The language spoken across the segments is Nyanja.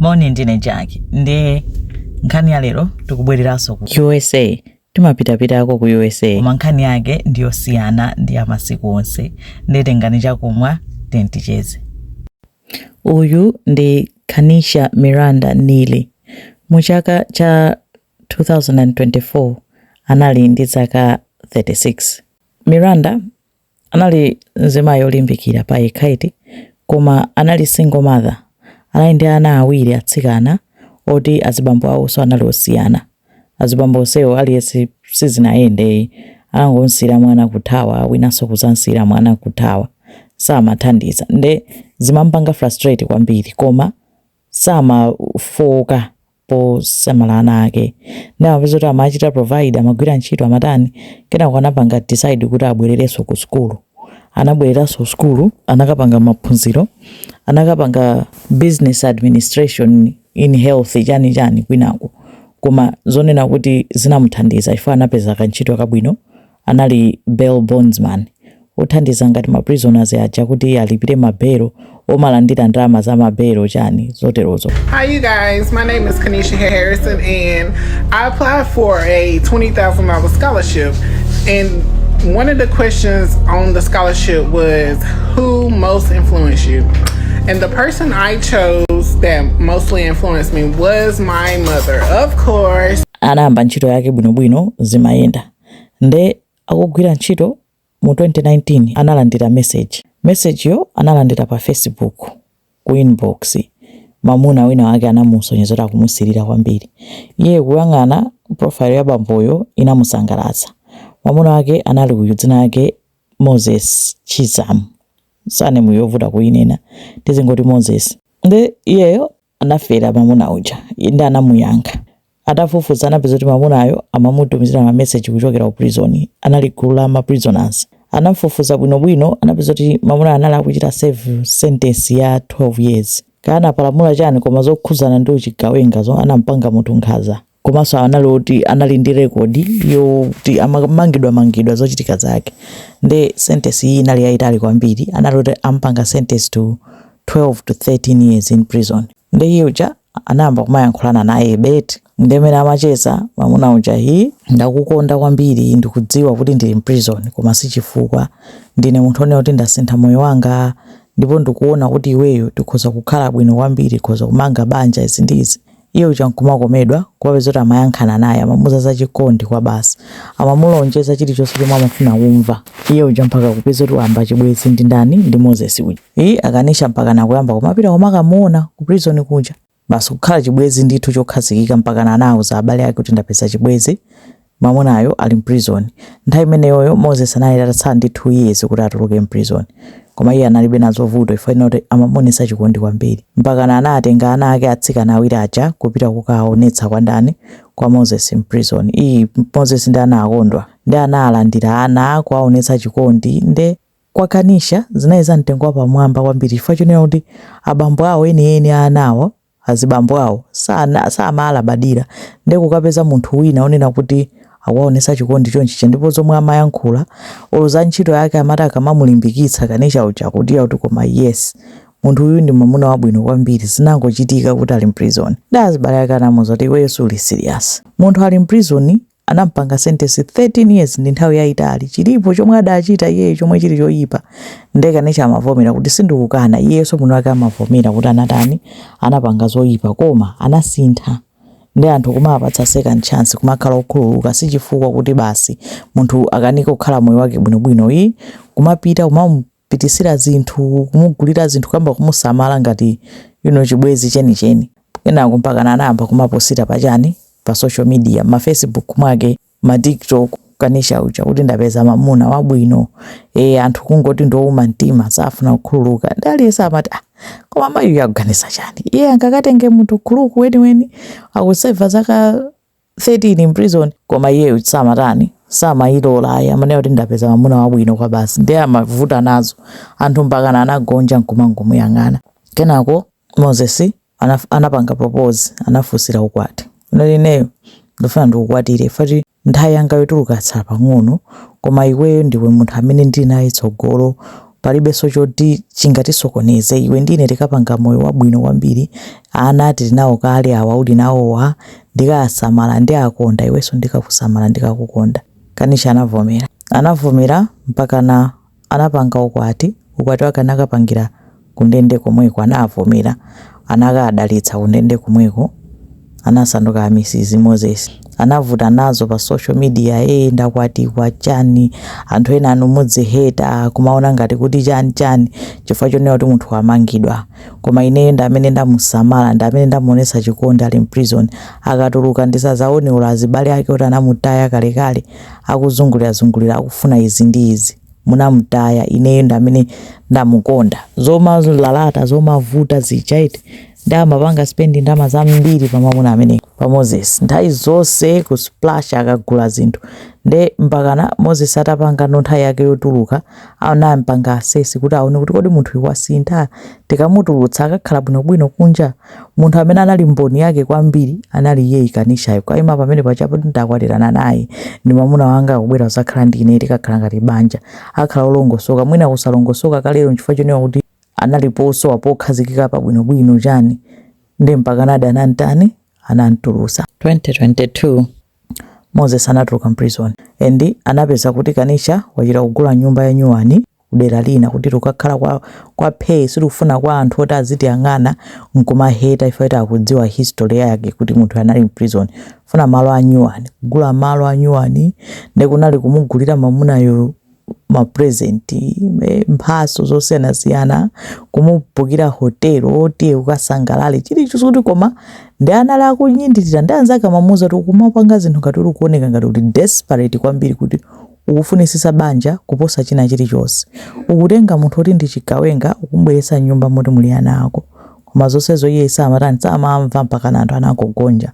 moni ndine jackie ndi nkhani ya lero tikubwereranso ku usa timapitapitako ku usa koma nkhani yake ndiyosiyana ndi ya masiku onse nditengani chakumwa tenticheze uyu ndi kanisha miranda nili mu chaka cha 2024 anali ndi zaka 36 miranda Anali mzimayi olimbikira pa yekha eti koma anali single mother anali ndi ana awiri atsikana oti azibambo awoso anali osiyana azibambo onsewo aliyense sizinayende uyu anangomsiyira mwana kuthawa winanso kuzamsiyira mwana kuthawa samathandiza nde zimampanga frustrate kwambiri koma samafooka posamala ana ake ndi amapeza kuti amachita provide amagwira ntchito amatani kenako anapanga decide kuti abwererenso ku sukulu anabwereranso ku sukulu anakapanga maphunziro anakapanga business administration in health chani chani kwinako koma zonena kuti zinamuthandiza chifukwa anapeza kantchito kabwino anali bail bondsman, othandiza ngati ma prisoners aja kuti alipire ma bail, omalandira ndalama za ma bail chani zoterozo. Hi you guys, my name is Kanisha Harrison and I applied for a $20,000 scholarship and one of the questions on the scholarship was who most influenced you? And the person I chose that mostly influenced me was my mother, of course. anayamba ntchito yake bwinobwino zimayenda Nde akugwira ntchito mu 2019 analandira message. Message yo analandira pa Facebook ku inbox. Mamuna wina wake anamusonyeza kuti akumusirira kwambiri. Iye kuyang'ana profile ya bamboyo inamusangalatsa. Mamuna wake anali uyu dzina lake Moses Chizamu. Surname yovuta kuyinena. Tizingoti Moses. Nde iyeyo anafera mamuna uja? Inde anamuyankha. Atafufuza anapeza kuti mamunayo amamutumizira ma message kuchokera ku prison. Anali gulu la ma prisoners. Anafufuza bwino bwino anapeza kuti mamunayo anali akuchita serve sentence ya 12 years. Kaya anapalamula chani koma zokhudzana ndi uchigawenga zoti anampanga munthu nkhaza. komanso anali oti anali ndi rekodi yoti amamangidwa mangidwa zochitika zake nde sentence iyi inali yayitali kwambiri anali oti ampanga sentence to 12 to 13 years in prison nde iye uja anayamba kumayankhulana nayebe eti nde mmene amacheza mamuna uja hi ndakukonda kwambiri ndikudziwa kuti ndili mprison koma si chifukwa ndine munthu onena kuti ndasintha moyo wanga ndipo ndikuona kuti iweyo tikhoza kukhala bwino kwambiri tikhoza kumanga banja izi ndi izi Iye uja nkumakomedwa kumapeza kuti amayankhulana naye, amamuuza za chikondi kwa basi. Amamulonjeza chilichonse chomwe amafuna kumva. Iye uja mpaka kupeza kuti wayamba chibwenzi ndi ndani? Ndi Moses uja. Iii Kanisha mpakana kuyamba kumapita kumakamuona ku prison kuja. Basi kukhala chibwenzi ndithu chokhazikika mpakana anauza abale ake kuti ndapeza chibwenzi Mamunayo ali m'prizoni. Nthawi imeneyoyo Moses anali atatsala ndi 2 years kuti atuluke m'prizoni. Koma iye analibe nazo vuto chifukwa china choti amamuonetsa chikondi kwambiri. Mpakana anatenga ana ake atsikana awiri aja kupita kukawaonetsa kwa ndani? Kwa Moses m'prizoni. Iii Moses nde anakondwa. Nde analandira ana, kuwaonetsa chikondi. Nde kwa Kanisha zinali za mtengo wapamwamba kwambiri chifukwa chonena kuti abambo awo enieni a anawo azibambo awo samaalabadira nde kukapeza munthu wina onena kuti akuwaonesa chikondi chonchija ndipo zomwe amayankhula olo za ntchito yake amati akamamulimbikitsa kanisha uja akuti kuti koma yes munthu uyu ndi mwamuna wabwino kwambiri zinangochitika kuti ali mprison nde azibale ake anamuza kuti iweyo suli serious munthu ali mprison anampanga sentensi 13 years ndi nthawi yaitali chilipo chomwe adachita iyeyo chomwe chili choyipa nde Kanisha amavomera kuti sindikukana iyeso mwini wake amavomera kuti anatani anapanga zoyipa koma anasintha nde anthu kumaapatsa second chance kumakhala okhululuka sichifukwa kuti basi munthu akanike kukhala moyo wake bwinobwino iyi kumapita kumam pititsira zinthu, kumugulira zinthu, kuyamba kumusamala ngati you know, chibwezi chenicheni. Kenako mpakana anayamba kumaposita pa chani pa social media, ma Facebook mwake, ma TikTok kanisha uja kuti ndapeza mamuna wabwino e, anthu kungoti ndowuma mtima safuna kukhululuka nde aliyense amati ah, koma mayiyu akuganiza chani iye angakatenge munthu khuluku weniweni akuseva zaka 13 in prison koma iyeyo samatani samailola ayi amanena kuti ndapeza mamuna wabwino kwa basi ndiye amavuta nazo anthu mpakana anagonja nkumangomuyang'ana kenako moses anaf- anapanga propose anafunsira ukwati amati ineyo ndifuna ndikukwatire footi nthawi yanga yotuluka yatsala pang'ono koma iweyo ndiwe munthu amene ndili naye tsogolo Palibenso choti chingatisokoneze. Iwe ndi ine tikapanga moyo wabwino kwambiri. Ana tili nawo kale, awa uli nawowa. Ndikasamala, ndiakonda, iwenso ndikakusamala, ndikakukonda. Kanisha anavomera. Anavomera mpakana anapanga ukwati. Ukwati wake anakapangira kundende komweko. Anaavomera. Anakaadalitsa kundende komweko. anasanduka a Mrs moses anavuta nazo pa social media ee ndakwatiwa chani anthu ena inu muzingoheta kumaona ngati kuti chani chani chifukwa chonena kuti munthu wamangidwa koma ineyo ndi amene ndamusamala ndi amene ndamuonesa chikondi ali mprison akatuluka ndisazaone olo azibale ake oti anamutaya kalekale akuzungulirazungulira akufuna izi ndi izi munamutaya ineyo ndi amene ndamukonda zomalalata zomavuta zichaiti ndi amapanga spendi ndalama zambiri pa mwamuna amene pa moses nthawi zonse ku splash akagula zinthu nde mpakana moses atapangano nthawi yake yotuluka anampanga asesi kuti aone kuti kodi munthu uyu wasintha tikamutulutsa akakhala bwinobwino kunja munthu amene anali mboni yake kwambiri anali iye Kanishayo kukaima pamene panjapo ndakwatirana naye ndi mwamuna wanga akubwera zakhala ndi ine tikakhala ngati banja akhala olongosoka mwina kusalongosoka kalero nchifukwa chonena kuti analipo posowa pokhazikika pa bwinobwino chani ndi mpakanadi anantani anamtulusa 2022 moses anatuluka mprison and anapeza kuti kanisha wachita kugula nyumba ya nyuwani kudera lina kuti tukakhala kwa, kwa pay sitikufuna kwa anthu oti azitiyang'ana nkumaheta ife oti akudziwa history yake kuti munthu anali mprison funa malo a nyuwani kugula malo a nyuwani ndikunali kumugulira mamunayo mapresenti eh, mphaso zosiyanasiyana kumubhukira hotelo tiye ukasangalale chilichonse kuti koma ndiye anali akunyadira ndi anzake amamuuza kuti ukumapanga zinthu ngati uli kuoneka ngati uli desperate kwambiri kuti ukufunisisa banja kuposa china chilichonse ukutenga munthu oti ndi chigawenga ukumbweretsa nyumba moti muli ana ako koma zonsezo iye samatani samamva mpaka anthu anangogonja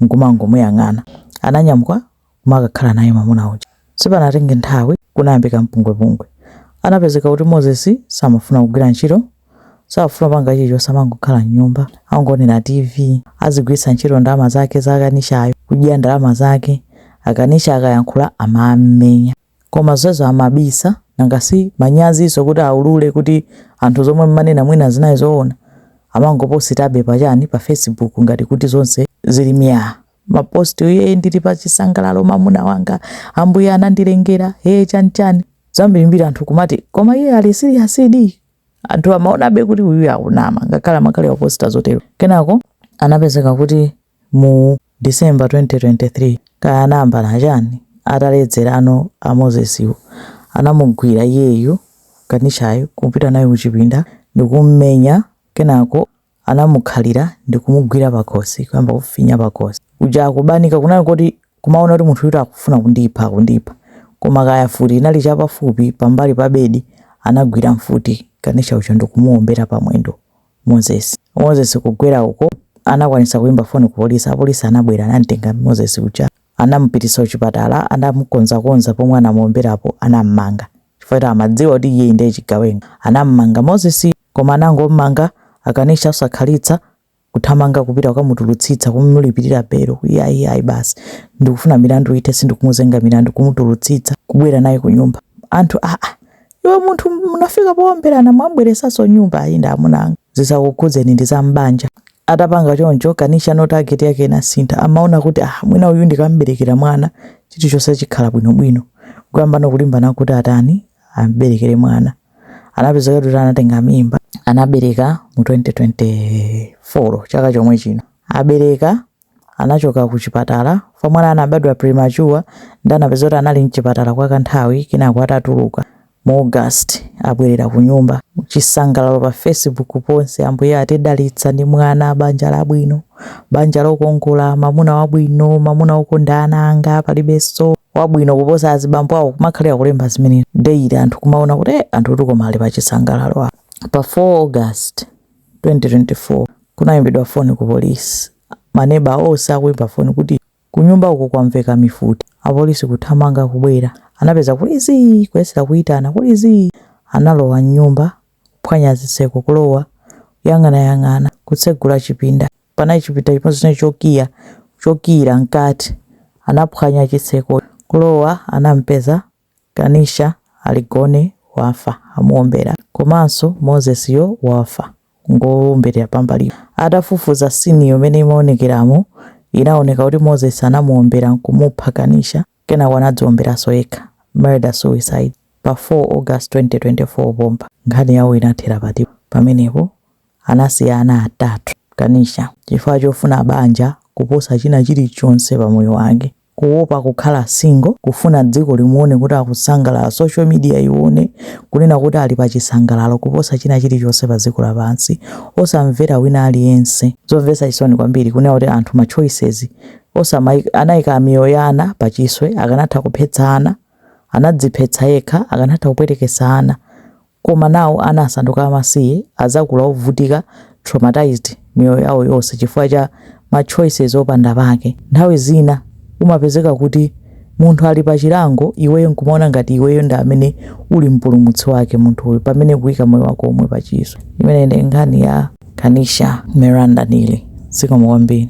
nkumangomuyang'ana ananyamuka kumakakhala naye mwamuna uja. Sipanatenge nthawi kunayambika mpungwepungwe. Anapezeka kuti Moses samafuna kugwira ntchito, sakufuna kupanga chilichonse amangokhala mnyumba, akungoonera TV, azigwiritsa ntchito ndalama zake za Kanishayo kudya ndalama zake, a Kanisha akayankhula amam'menya. Koma zonsezo amabisa, nanga si manyazinso kuti aulule kuti anthu zomwe mmanena mwina zinali zoona? Amangopositabe pa chani, pa Facebook ngati kuti zonse zili myaa. mapost iye ndili pa chisangalalo mamuna wanga ambuye anandilengera ee chani chani zambirimbiri anthu kumati koma iye ali siriyasidi anthu amaonabe kuti uyu akunama ngakhale amakhala akuposta zotero kenako anapezeka kuti mu december 2023 kaya anayambana chani ataledzerano a mosesiwo anamugwira iyeyu kanishayo kupita naye kuchipinda ndikummenya kenako anamukhalira ndikumugwira pakhosi kuyamba kufinya pakhosi uja akubanika kunali koti kumaona kuti munthuyu akufuna kundipha kundipha koma kaya mfuti inali chapafupi pambali pa bedi anagwira mfuti kanisha uja ndikumuombera pamwendo moses moses kugwera uko anakwanisa kuimba foni ku polisi apolisi anabwera anamtenga moses uja anamupitisa kuchipatala anamukonzakonza pomwe anamuomberapo anammanga chifukwa choti amadziwa kuti iyeyi ndiye chigawenga. Anam'manga Moses yo koma anangom'manga Akanisha osakhalitsa kuthamanga kupita kukamutulutsitsa kumulipirira belo kuti ayi ayi basi ndikufuna milandu ithe sindikumuzenga milandu kumutulutsitsa kubwera naye kunyumba anthu aa iwe munthu munafika poomberana mwamubweretsaso nyumba ayi ndi amuna anga zisakukhudzeni ndi za m'banja atapanga choncho Kanisha no target yake inasintha amaona kuti ah mwina uyu ndikamberekera mwana chilichonse chikhala bwinobwino kuyamba no kulimbana kuti atani amberekere mwana anapezeka kuti anatenga mimba anabereka mu 2024 chaka chomwe chino abereka anachoka kuchipatala, kamwana kanabadwa premature nde anapezeka kuti anali mchipatala kwa kanthawi kenako atatuluka mu August abwerera kunyumba. Chisangalalo pa Facebook ponse, Ambuye atidalitsa ndi mwana, banja labwino, banja lokongola, mamuna wabwino, mamuna okonda ana anga, palibeso wabwino kuposa azibambo awo kumakhalira kulemba zimenezo daily anthu kumaona kuti eeh anthutu koma ali pa chisangalalo apa. Pa 4 August. 2024 kunaimbidwa foni ku polisi maneba onse akuimba foni kuti kunyumba uku kwamveka mifuti. Apolisi kuthamanga kubwera anapeza kuli zii kuyesera kuitana kuli zii analowa m'nyumba kuphwanya zitseko kulowa kuyang'anayang'ana kutsegula chipinda panali chipinda chimodzi chinali chokiya chokiira mkati anaphwanya chitseko kulowa anampeza Kanisha ali gone wafa amuombera komanso Moses yo wafa ngowomberedwa pambalipo. Atafufuza scene yo mmene imaonekeramo inaoneka kuti Moses anamuombera nkumupha Kanisha kenako anadziomberaso yekha, murder suicide, pa 4 August 2024 pompa. Nkhani yawo inathera pati pamenepo anasiya ana atatu Kanisha chifukwa chofuna banja kuposa china chilichonse pamoyo wake. kuopa kukhala single, kufuna dziko limuone kuti akusangalala, social media ione kunena kuti ali pa chisangalalo kuposa china chilichonse pa dziko lapansi, osamvera wina aliyense. Zomvetsa chisoni kwambiri kunena kuti anthu ma choices awo, anaika miyoyo ya ana pa chiswe, akanatha kuphetsa ana, anadziphetsa yekha, akanatha kupwetekesa ana, Koma nawo ana asanduka amasiye, adzakula ovutika, traumatized, miyoyo yawo yonse chifukwa cha ma choices opanda pake. Nthawi zina umapezeka kuti munthu ali pa chilango iweyo nkumaona ngati iweyo ndi amene uli mpulumutsi wake munthuyo pamene ukuika moyo wako omwe pa chiswe. Imeneyi ndi nkhani ya Kanisha Miranda Neely. Zikomo kwambiri.